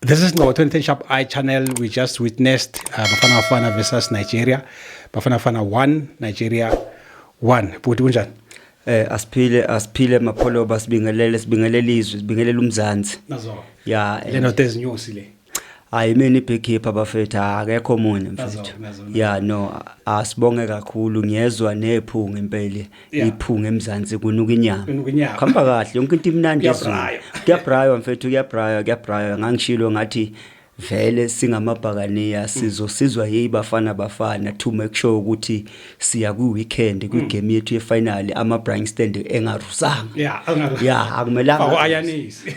This is Ngqo 2010 Sharp Eye channel. We just witnessed uh, Bafana Bafana versus Nigeria. Bafana Bafana 1, Nigeria 1. Bhuti kunjani? Eh asiphile asiphile mapholoba sibingelele sibingelele izwe sibingelele umzansi. Nazo. Yeah. Le note ezinyosi le. hayi mina ibeekeeper bafethu akekho omunye mfethu ya no asibonge kakhulu ngiyezwa nephunga impela iphunga emzansi kunuka inyama khamba kahle yonke into imnandi ezulu kuyabraywa mfethu kuyabraywa kuyabraywa ngangishilo ngathi vele singamabhakaniya sizosizwa yibafana bafana to make sure ukuthi siya kwi-weekend kwigame yethu yefinali ama-brying stand engarusanga ya angaru- ya Faka akumelanga u-ayanisi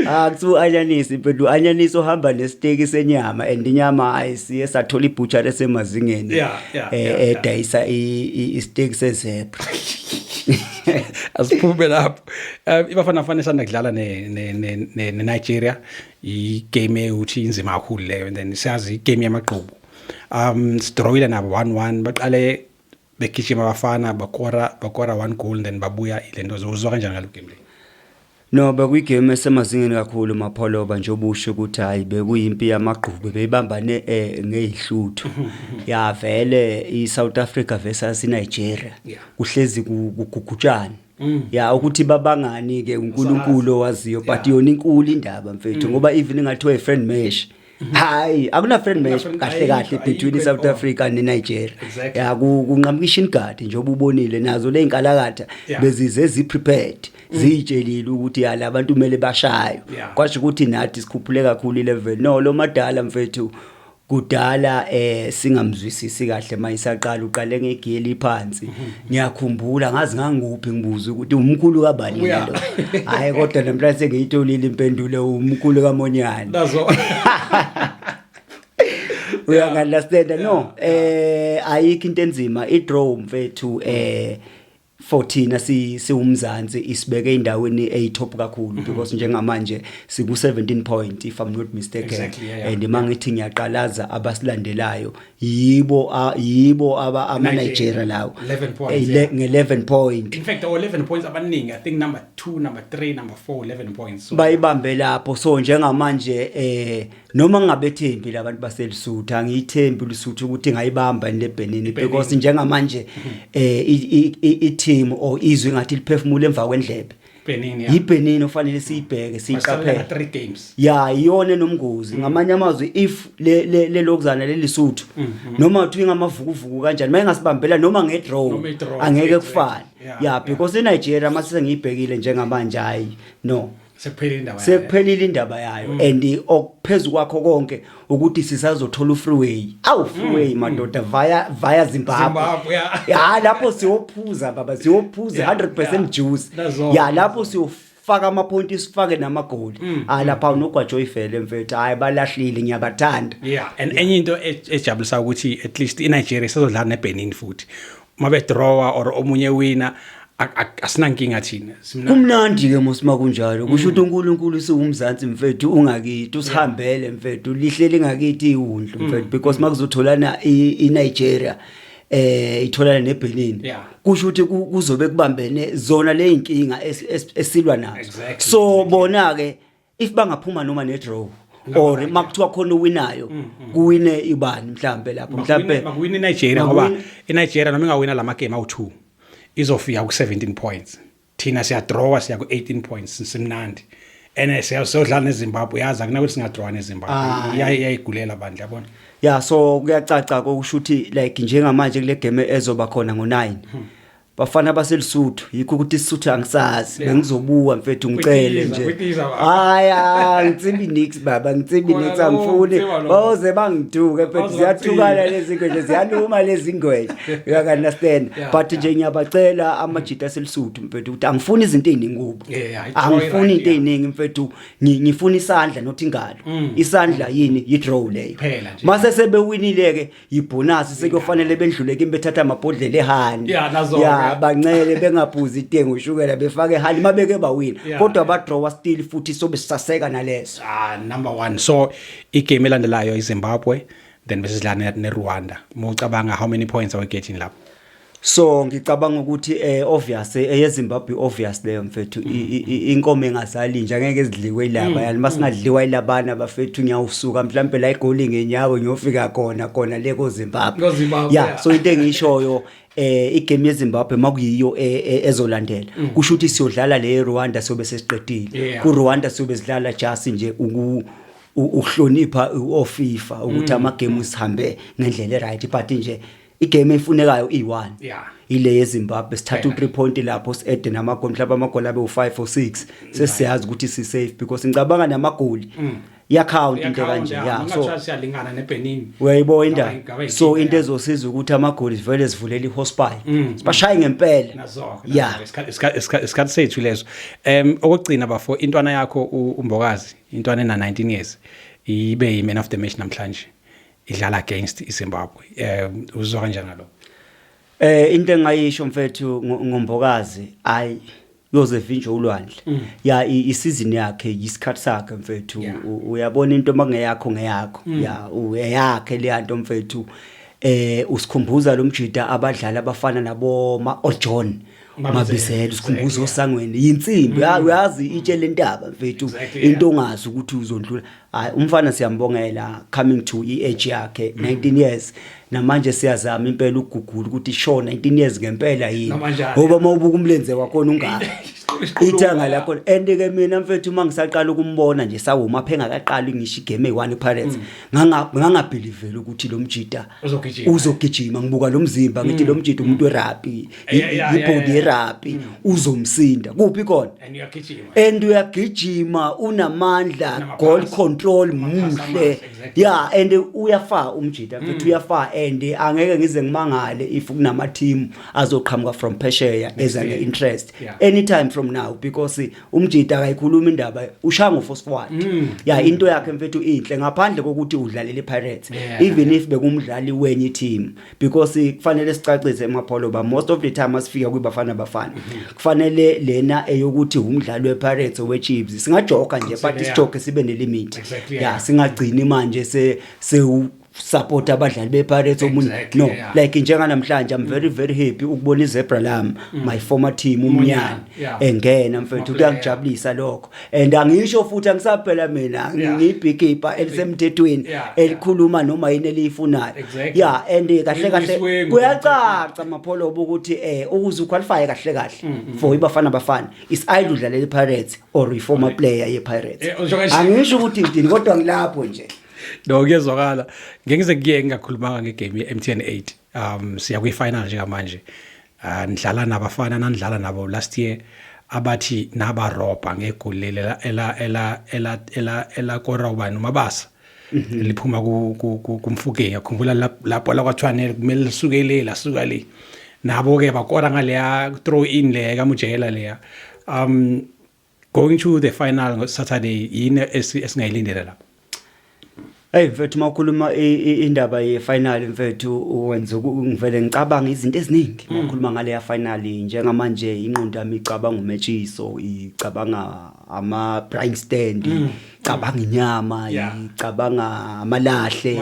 Ah, kuthiwa u-anyanisi but u-anyanisi uhamba nesiteki senyama and inyama hayi siye sathola ibutshari esemazingeni Yeah, yeah, eh, yeah, yeah. edayisa i- i- isiteki sezebra asiphume lapho um ibafana bafana esanda kudlala ne- ne- ne- ne- nenigeria igame ewuthi inzima kakhulu leyo and then siyazi igame yamagqubu um sidrowile nabo one one baqale begijima abafana bakora bakora one goal then babuya le nto uzwa kanjani ngalo game le no bekuyigame esemazingeni kakhulu mapholoba nje obusho ukuthi hhayi bekuyimpi yamagqube beyibambane um ngeyihluthu ya vele i-south africa versus inigeria kuhlezi kugugutshane Mm. ya ukuthi babangani ke uNkulunkulu owaziyo but yona inkulu indaba mfethu mm. ngoba even ingathiwa i friend mesh hayi akuna friend match kahle kahle between iSouth Africa neNigeria ya kunqamuka ishin guard nje obubonile nazo leinkalakatha bezize zi prepared mm. ziyitshelile ukuthi yala abantu kumele bashayo kwasho ukuthi nathi sikhuphule kakhulu ilevel no lo madala mfethu kudala eh singamzwisisi kahle mayisaqala uqale ngegeli phansi mhm. ngiyakhumbula ngazi ngangikuphi ngibuza ukuthi umkhulu kabani lento hhayi kodwa namhlanje sengiyitholile impendulo umkhulu kamonyane uyangalastenda no eh ayikho into enzima idraw mfethu eh for thina si siwumzansi isibeke endaweni eyitop kakhulu mhm. because njengamanje siku 17 point if i'm not mistaken exactly, yeah, yeah. and mangithi ngiyaqalaza abasilandelayo yibo a- yibo aba ama Nigeria. Nigeria lawo 11 points, Ele- yeah. nge 11 point in fact our 11 points abaningi i think number 2 number 3 number 4 11 points so bayibambe lapho so njengamanje eh noma ngingabethembi labantu baselisuthu angiyithembi lisuthu ukuthi ngayibamba le Benin Benin. because njengamanje eh i- i- i- i team or izwe ngathi liphefumula emva kwendlebe Benin ya. yiBenin ofanele siyibheke Basabela siyiqaphele nga 3 games. ya iyona enomngozi Mm. ngamanye amazwi if le le- le lokuzana lelisuthu noma uthi ingamavukuvuku kanjani mayingasibambela noma Mm-hmm. Noma ngedraw i-draw, angeke exactly. kufane Yeah, ya yeah. because eNigeria mase sengiyibhekile njengamanje hayi no Sekuphelile indawo. yayo. sekuphelile indaba yayo and okuphezulu kwakho konke ukuthi sisazothola ufreeway awu freeway mm, mm. madoda via via Zimbabwe ya lapho siyophuza baba siyophuza 100% juice ya lapho siyofaka ama point isifake namagoli mm, ha lapha unogwajo ifele mfethu hayi balahlile ngiyabathanda yeah and enye into e-, ejabulisa ukuthi at least iNigeria sezodlala neBenin futhi mabe drawer or omunye wina asinankinga thina kumnandi ke mosima kunjalo kusho ukuthi uNkulunkulu siwumzansi mfethu ungakithi usihambele mfethu lihle lingakithi iwundlu mm. mfethu because makuzotholana iNigeria eh itholana neBenin kusho ukuthi kuzobe kubambene zona leyinkinga esilwa nazo so bona ke if bangaphuma noma ne draw or makuthiwa khona owinayo mm, mm. kuwine ibani mhlambe lapho mhlambe makuwina iNigeria ngoba iNigeria noma ingawina lama game awu2 izofika ku 17 points thina siya draw siya ku 18 points simnandi ene siyodlala neZimbabwe yazi akunakuthi singadraw neZimbabwe ah. iyayigulela bandla yabona ya so kuyacaca kokusho ukuthi like njengamanje kule game ezoba khona ngo9 hmm. bafana baselisuthu yikho ukuthi isisuthu angisazi yeah. bengizobuka mfethu ngicele nje hayi angitsimbi nix baba ngitsimbi nix angifuni boze bangiduke mfethu ziyathukana lezi ngweje ziyaluma lezi ngweje you can understand yeah, but nje yeah. ngiyabacela amajita aselisuthu mfethu ukuthi angifuni izinto eziningi kubo angifuni into eziningi mfethu ngifuna isandla not ingalo mm. isandla yini yi draw leyo mase sebewinile ke yibhonasi sekuyofanele bendlule kimi bethatha amabhodlela ehani Yeah, nazo-ke. ya bancele bengaphuzi itengo ushukela befake ehani uma beke bawina Yeah. kodwa badrawa still futhi sobe sisaseka naleso ah number 1 so igame elandelayo iZimbabwe then besidlana neRwanda mucabanga how many points are we getting lapho so ngicabanga ukuthi eh obvious eh, eyezimbabwe obvious leyo mfethu inkomo engazali nje angeke ezidliwe ilaba mm, yani masingadliwa mm. ilabana bafethu ngiyawusuka mhlawumbe la igoli ngenyawo ngiyofika khona khona le kozimbabwe ya so into engishoyo eh igame yeZimbabwe makuyiyo e, e, ezolandela mm. kusho ukuthi siyodlala le Rwanda sobe sesiqedile ku Rwanda sobe sidlala just nje uku uhlonipha oFifa ukuthi amagame usihambe ngendlela eright but nje igame efunekayo iyi-one yeah. ile yezimbabwe sithatha u-three point lapho si-ede namagoli mhlawumbe amagoli abe u-five or six sesiyazi ukuthi si-safe because ngicabanga namagoli mm. yakhawunti into kanje ya so siyalingana neBenin uyayibo indaba so into ezosiza ukuthi amagoli sivele sivulela ihospital mm, mm. bashaye ngempela ya isikhathi sethu leso em okugcina bafo intwana yakho umbokazi intwana ena 19 years ibe yi man of the match namhlanje idlala against iZimbabwe eh uzwa kanjani lo eh into engayisho mfethu ngombokazi ayi yoze vinje ulwandle mm. ya isizini yakhe yisikhathi sakhe mfethu uyabona into mangeyakho ngeyakho mm. ya uyakhe le nto mfethu eh usikhumbuza lo mjida abadlali abafana nabo ma oJohn oh mabizela sikhumbuzo osangweni yinsimbi mm. uyazi itshe lentaba mfethu into ongazi ukuthi uzondlula hayi umfana siyambongela coming to iage yakhe 19 mm. years namanje siyazama impela ukugugula ukuthi show 19 years ngempela yini ngoba mawubuka umlenze wakho ungaka ithanga lakho and ke mina mfethu uma ngisaqala ukumbona nje sawuma phenga kaqali ngisho igame one pirates mm. nganga ngangabelivela ukuthi lo mjita uzogijima ngizogijima ngibuka lo mzimba ngithi mm. lo mjita umuntu werugby ibhodi yerabhi mm. uzomsinda kuphi kona and uyagijima unamandla goal control muhle ya and uyafaa umjita mfethu mm. uyafaa and angeke ngize ngimangale if kunama team azoqhamuka from phesheya eza ne interest anytime from now because umjita akayikhuluma indaba ushango for squad mm. ya into yakhe mfethu inhle ngaphandle kokuthi udlalele pirates even if bekumdlali wenye team because kufanele sicacise emapholo ba most of the time asifika kwibafana bafana kufanele lena eyokuthi umdlali wePirates oweChiefs singajoka nje but isijoke sibe nelimit yeah singagcini manje se se support abadlali bePirates omunye exactly, no yeah. like njenganamhlanje I'm very very happy ukubona iZebra lam mm. my former team umnyana yeah. engena mfethu kuyangijabulisa lokho and angisho futhi angisaphela mina ngibhikipa elisemthethweni elikhuluma noma yini eliyifunayo yeah and eh, kahle kahle kuyacaca mapholobo ukuthi eh ukuze uqualify kahle kahle mm, mm, for mm. ibafana bafana is idle udlalela iPirates or reformer player yePirates eh, angisho ukuthi ngidini kodwa ngilapho nje no kuyezwakala ngeke ngize kuye ngingakhulumanga ngegame ye-MTN 8 um siya kwi final njengamanje ah, nidlala nabafana nanidlala nabo last year abathi naba ropa ngegoli leli ela ela ela ela ela ela kora ubani umabasa mhm. liphuma ku ku kumfuke yakhumbula lapho la kwathwane kumele lisuke le la suka le nabo ke bakora ngaleya throw in le ka mujela leya um going to the final ngo Saturday yini esingayilindela lapho Hey mfethu mawukhuluma indaba ye final mfethu wenza ngivele ngicabanga izinto eziningi hmm. mawukhuluma ngale ya final njengamanje inqondo yami icabanga umetshiso icabanga ama prime stand hmm. icabanga inyama icabanga amalahle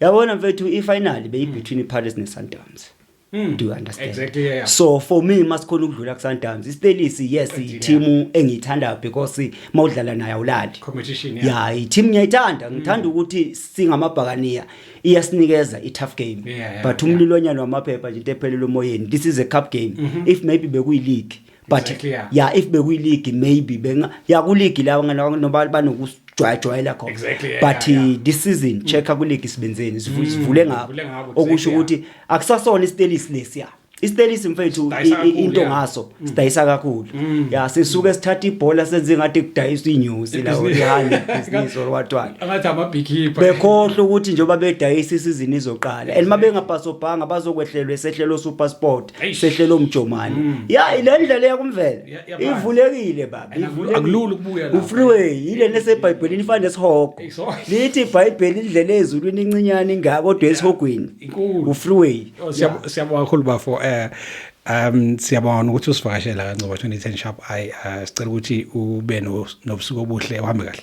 yabona mfethu ifinal beyibetween iPirates neSundowns Mm. Do you understand? Exactly, yeah, yeah. So for me masikhona ukudlula kuSundowns. IStellies yes i-team engiyithanda because mawudlala nayo awulali. Competition yeah. Yeah, i-team ngiyayithanda. Mm. Ngithanda ukuthi singamabhakaniya iyasinikeza i-tough game. Yeah, yeah, but umlilonyana yeah. wamaphepha nje into ephelele umoyeni. This is a cup game. Mm -hmm. If maybe bekuyi-league but Exactly, yeah. yeah if bekuyiligi maybe benga ya kuligi lawo ngalawo noba banokujwayajwayela khona Exactly, yeah, but yeah, Mm. yeah. this season check kuligi sibenzeni sivu- sivule ngabo sivule ngabo, okusho exactly, ukuthi akusasona istelisi lesiya istelisi mfethu Sidayisa i- i- kakhulu, into yeah. Mm. ngaso sidayisa kakhulu ya sisuke sithatha ibhola senze ngathi kudayiswa inyosi la Ibhizinisi. ihani business or what what angathi amabhikhipha bekhohlwa ukuthi njengoba bedayisa isizini izoqala and uma bengapasobhanga bazokwehlelwa esehlelo supersport sehlelo mjomane mm. ya ile ndlela yakumvela ivulekile baba akulula ukubuya la ufreeway ile nesebhayibhelini ifana nesihogo lithi ibhayibheli indlela ezulwini incinyane ingaka kodwa esihogweni ufreeway oh, siyabonga kakhulu bafo eh Um siyabona ukuthi usivakashela kaNcobo 2010 sharp I uh, sicela ukuthi ube nobusuku obuhle uhambe kahle